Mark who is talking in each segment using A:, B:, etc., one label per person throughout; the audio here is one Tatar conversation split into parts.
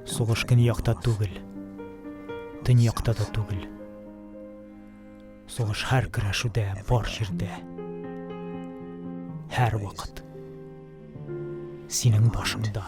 A: Сугыш көньякта түгел. Төньякта да түгел. Сугыш һәр көрәшүдә, бар җирдә. Һәр вакыт. Синең башыңда.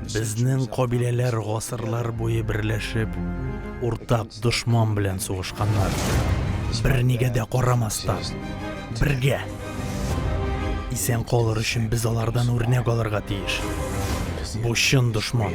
A: Безнең кабиләләр гасырлар буе берләшеп, уртак дошман белән сугышканнар. Бернигә дә карамастан, бергә. Исән калыр өчен без алардан үрнәк алырга тиеш. Бу чын дошман.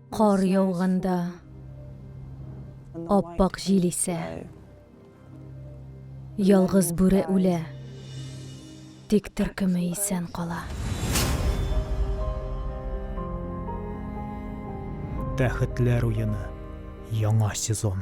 A: Кар яуганда, аппак җил исә, ялгыз бүре үлә, тик төркеме исән кала. Тәхетләр уены. Яңа сезон.